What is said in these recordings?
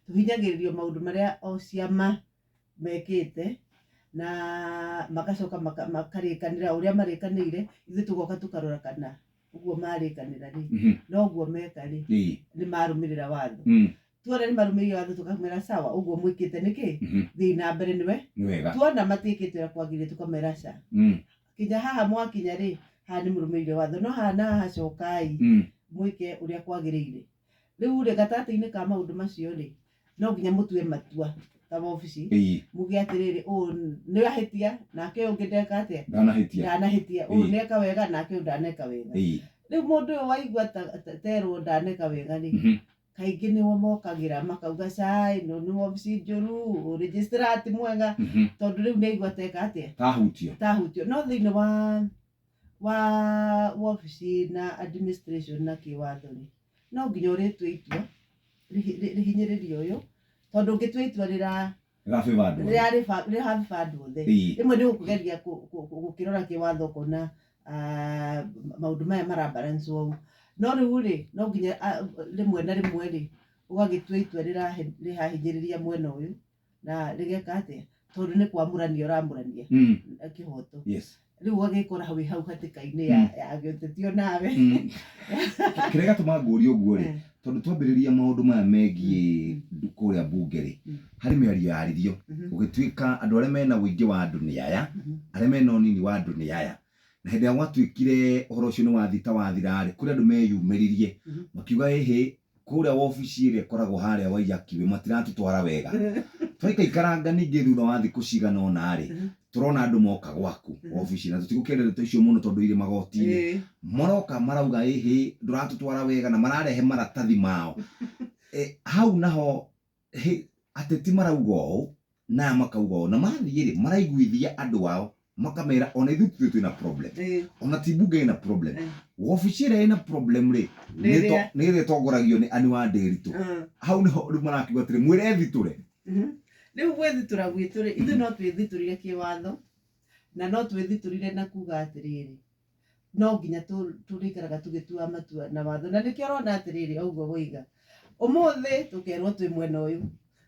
tũhinyagĩrĩrio maũndũ marĩa o ciama mekĩte na magacoka makarĩkanĩra ũrĩa marĩkanĩire ithuĩ tũgoka tũkarora kana ũguo marĩkanĩra rĩ mhm. noguo meka rĩ nĩ marũmĩrĩra watho mm. tuona nĩ marũmĩrĩire watho tũkamera sawa ũguo mwĩkĩte nĩkĩ mhm. thiĩ na mbere nĩwe tuona matiĩkĩte ũrĩa kwagĩrĩire tũkamera ca mm. kinya haha mwakinya rĩ haha nĩ mũrũmĩrĩire watho no haha na haha cokai mm. mwĩke ũrĩa kwagĩrĩire Rĩu rĩ gatagatĩ-inĩ ka maũndũ macio rĩ no nginya mũtue matua ta wabici Ĩĩ. muge atĩrĩrĩ ũũ nĩ ahĩtia nake ũyũ ũngĩ ndeka atĩa Ndanahĩtia. ndanahĩtia ũyũ Ĩĩ. neka wega nake ũyũ ndaneka wega Ĩĩ. rĩu mũndũ ũyũ waigua ta- ta- terwo ndaneka wega rĩ Mhm. kaingĩ nĩo mokagĩra makauga cai ĩno nĩ wabici njũru registrar ti mwega Mhm. tondũ rĩu nĩ aigua teka atĩa Tahutio. tahutio no thĩinĩ wa wa wobici na administration na kĩwatho rĩ, no nginya ũrĩtue itua rĩhi- rĩ- rĩhinyĩrĩrie ũyũ tondũ ũngĩtua itua rĩra gabeba andũ aya. rĩrarĩba- rĩrahamba andũ othe Ii. rĩmwe nĩ gũkũgeria kũ- kũ- kũ- gũkĩrora kĩwatho ũkona ah, maũndũ maya marabalance ũũ no rĩu rĩ no nginya ah, rĩmwe na rĩmwe rĩ ũgagĩtua itua rĩrahe- rĩrahinyĩrĩria mwena ũyũ na rĩgeka atĩa tondũ nĩ kwamũrania ũramũrania Mm. na kĩhoto Yes. rĩu ũgagĩkora wĩ hau hatĩka-inĩ ya, Mm. ya gĩũteti o nawe Mm. kĩrĩa gatũma ngũria ũguo rĩ Eh. tondũ twambĩrĩria maũndũ maya megiĩ Mm, ndu- kũrĩa mbunge rĩ Mm. harĩ mĩario yaririo Mhm. gũgĩtuĩka andũ arĩa mena ũingĩ wa andũ nĩ aya Mhm. arĩa mena ũnini wa andũ nĩ aya na hĩndĩ ĩrĩa gwatuĩkire ũhoro ũcio nĩ wathita wathira rĩ kũrĩ andũ meyumĩririe Mhm. makiuga ĩhĩ Kũrĩa wobici ĩrĩa ĩkoragwo harĩa Waiyakiwĩ matiratũtwara wega. Twaikaikaranga ningĩ thutha wa thikũ cigana ũna-rĩ, tũrona andũ moka gwaku wobici, na tũtigũkĩenda ndeto icio mũno tondũ irĩ magoti-inĩ. Maroka marauga ĩhĩ ndũratũtwara wega na mararehe maratathi mao. Hau naho ateti marauga ũũ na aya makauga ũũ na mathiĩ rĩ maraiguithia andũ ao makamera ona ithuĩ tithuĩ twĩna problem Eh. ona ti mbunge ĩna problem Eh. wobici ĩrĩa ĩna problem rĩ Nĩ nĩ ĩrĩa- to- nĩ ĩrĩa ĩtongoragio nĩ ani wa ndĩritũ Ah. hau nĩho rĩu marakiuga atĩrĩ mwĩrethitũre Mhm. rĩu gwĩthitũra gwitũ rĩ ithuĩ no twĩthitũrire kĩwatho na no twĩthitũrire na kuga atĩrĩrĩ no nginya tũrĩikaraga tũgĩtua matua na watho na nĩkĩo ũrona atĩrĩrĩ oguo woiga ũmũthĩ tũkerwo twĩ mwena ũyũ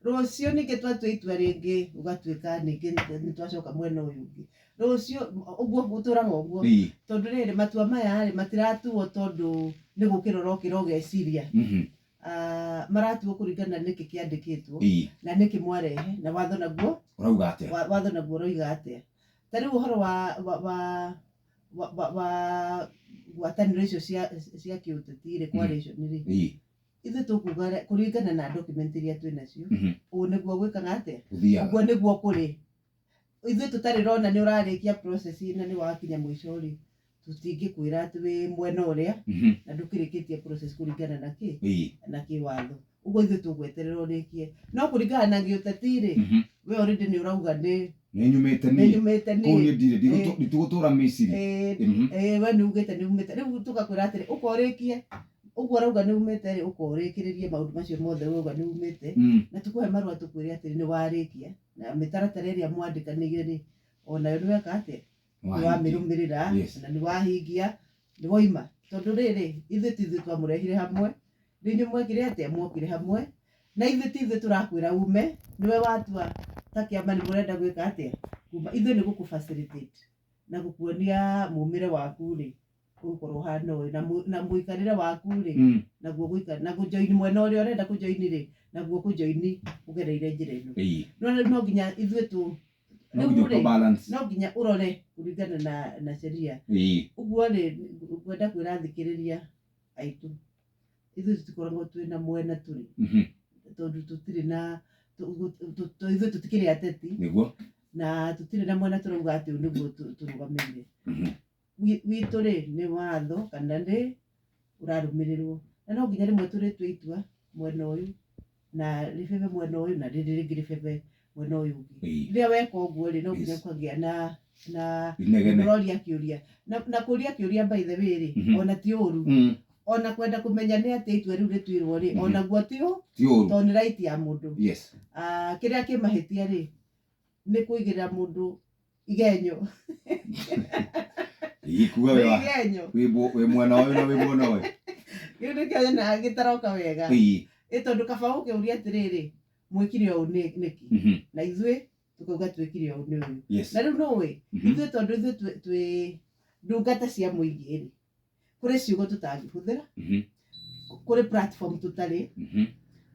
rũciũ ningĩ twatua itua rĩngĩ ũgatuĩka ningĩ nĩ twacoka mwena ũyũ ũngĩ rũciũ ũguo ũtũraga ũguo tondũ rĩrĩ matua maya rĩ matiratuo tondũ nĩ gũkĩra ũrokĩra ũgeciria mhm. ah, maratuo kũringana nĩkĩ kĩandĩkĩtwo na nĩkĩ mwarehe na watho naguo watho naguo ũroiga atĩa Ta rĩu ũhoro wa, wa, wa, wa, wa, wa ngwatanĩro icio cia, cia kĩũteti rĩ, coalition rĩ, Ii. ithuĩ tũkuga rĩ, kũringana na document iria twĩ nacio, Mhm. ũguo nĩguo gwĩkaga atĩa? Gũthiaga. Ũguo nĩguo kũrĩ. Ithuĩ tũtarĩ rona nĩ ũrarĩkia process na nĩ wakinya mũico rĩ, tũtingĩkwĩra atĩ wĩ mwena ũrĩa Mhm. na ndũkĩrĩkĩtie process kũringana na kĩ Ii. na kĩwatho ũguo ithuĩ tũgweterera ũrĩkie no kũringana na gĩũteti-rĩ Mhm. we already nĩ ũrauga nĩ Nĩ nyumĩte nĩ niĩ. nyumĩte Kũu niĩ niĩ ndirĩ. Ndigũtũ- Eh. Nditigũtũra Misiri. Eh, ndi- Mhm. eh, we nĩ ugĩte nĩ umĩte rĩu tũgakwĩra atĩrĩ ũka ũrĩkie ũguo ũrauga nĩ umĩte rĩ ũka ũrĩkĩrĩrie maũndũ macio mothe urauga nĩ umĩte Mm. na tũkũhe marũa tũkwĩre atĩrĩ nĩ warĩkia na mĩtaratara ĩrĩa mwandĩkanĩire rĩ o nayo nĩ weka atĩa nĩ Nĩwahingia. wamĩrũmĩrĩra Yes. na nĩ wahingia nĩ waima tondũ rĩrĩ ithuĩ ti ithuĩ twamũrehire hamwe nĩ inyuĩ mwekire atĩa mwokire hamwe na ithuĩ ti ithuĩ tũrakwĩra ume nĩwe watua ta kĩama nĩ mũrenda gwĩka atĩa kuma ithuĩ nĩ gũkũ facilitate na gũkuonia mũmĩre waku rĩ ũgũkorwo ũhana ũyũ na mũ- na mũikarĩre waku rĩ Mm. naguo gũikara na kũjoini mwena ũrĩa ũrenda kũjoini rĩ naguo kũjoini ũgereire njĩra ĩno Ĩĩ. no rĩu no nginya ithuĩ tũ no nginya Rĩu-rĩ, ũka balance no nginya ũrore kũringana na na sheria ĩĩ ũguo rĩ ngwenda kwĩra athikĩrĩria aitũ ithuĩ tũtikoragwo twĩ na mwena tũrĩ mhm, tondũ tũtirĩ na tũ- tũ- tũ- tũ- ithuĩ tũtikĩrĩ ateti nĩguo na tũtirĩ na mwena tũrauga atĩ ũyũ nĩguo tũ- tũrũgamĩrĩire mhm, witũ rĩ nĩ watho kana nĩ ũrarũmĩrĩrwo. Na no nginya rĩmwe tũrĩtue itua mwena ũyũ na rĩbebe mwena ũyũ na rĩrĩ rĩngĩ rĩbebe mwena ũyũ ũngĩ. Rĩrĩa weka ũguo rĩ no nginya ũkagĩa na na ũroria kĩũria. Na kũria kĩũria by the way rĩ ona ti ũru ona kwenda kũmenya nĩ atĩa itua rĩu rĩtuirwo rĩ onaguo ti ũru tondũ nĩ right ya mũndũ. Kĩrĩa kĩ mahĩtia rĩ nĩ kũigĩrĩra mũndũ igenyo igikuga nĩ wewa igenyo wĩ mbu- wĩ mwena ũyũ na wĩ mwena ũyũ kĩu nĩkĩo nyonaga gĩtaroka wega Ii, ĩ tondũ kaba ũkĩũria atĩrĩrĩ mwĩkire ũũ nĩ- nĩkĩ mhm, na ithuĩ tũkauga twĩkire ũũ nĩ ũyũ yes, na rĩu nũĩ mhm, ithuĩ tondũ ithuĩ twĩ- twĩ ndungata cia mũingĩ rĩ kũrĩ ciugo tũtangĩhũthĩra Mhm. kũrĩ platform tũtarĩ Mhm.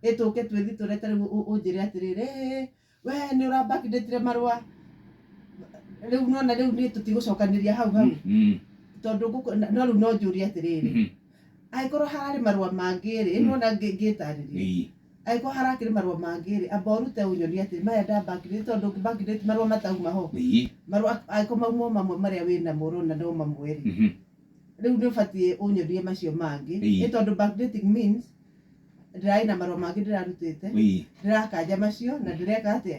ĩtũke twĩthi tũrĩa tarĩu ũ- ũnjĩre atĩrĩrĩ "Ĩ, we nĩ ũrambakindĩtire marũa rĩu nona rĩu niĩ tũtigũcokanĩria hau hau Mhm. tondũ ngũkũ- na- no rĩu no njũrie atĩrĩrĩ Mhm. angĩkorwo hararĩ marũa mangĩ rĩ Mm. nona ngĩtarĩria Ii. Angĩkorwo harakĩrĩ marũa mangĩ-rĩ, amba ũrute ũnyonie atĩrĩ, maya nda bank date, tondũ ndũngĩ bank date marũa matauma ho. Ĩĩ. Marũa angĩkorwo mauma o mamwe marĩa wĩnamo ũrona no mamwe-rĩ, rĩu nĩũbatiĩ ũnyonie macio mangĩ. Ĩĩ. Nĩ tondũ bank dating means ndĩrarĩ na marũa mangĩ ndĩrarutĩte, ndĩrakanja macio na ndĩreka atĩa?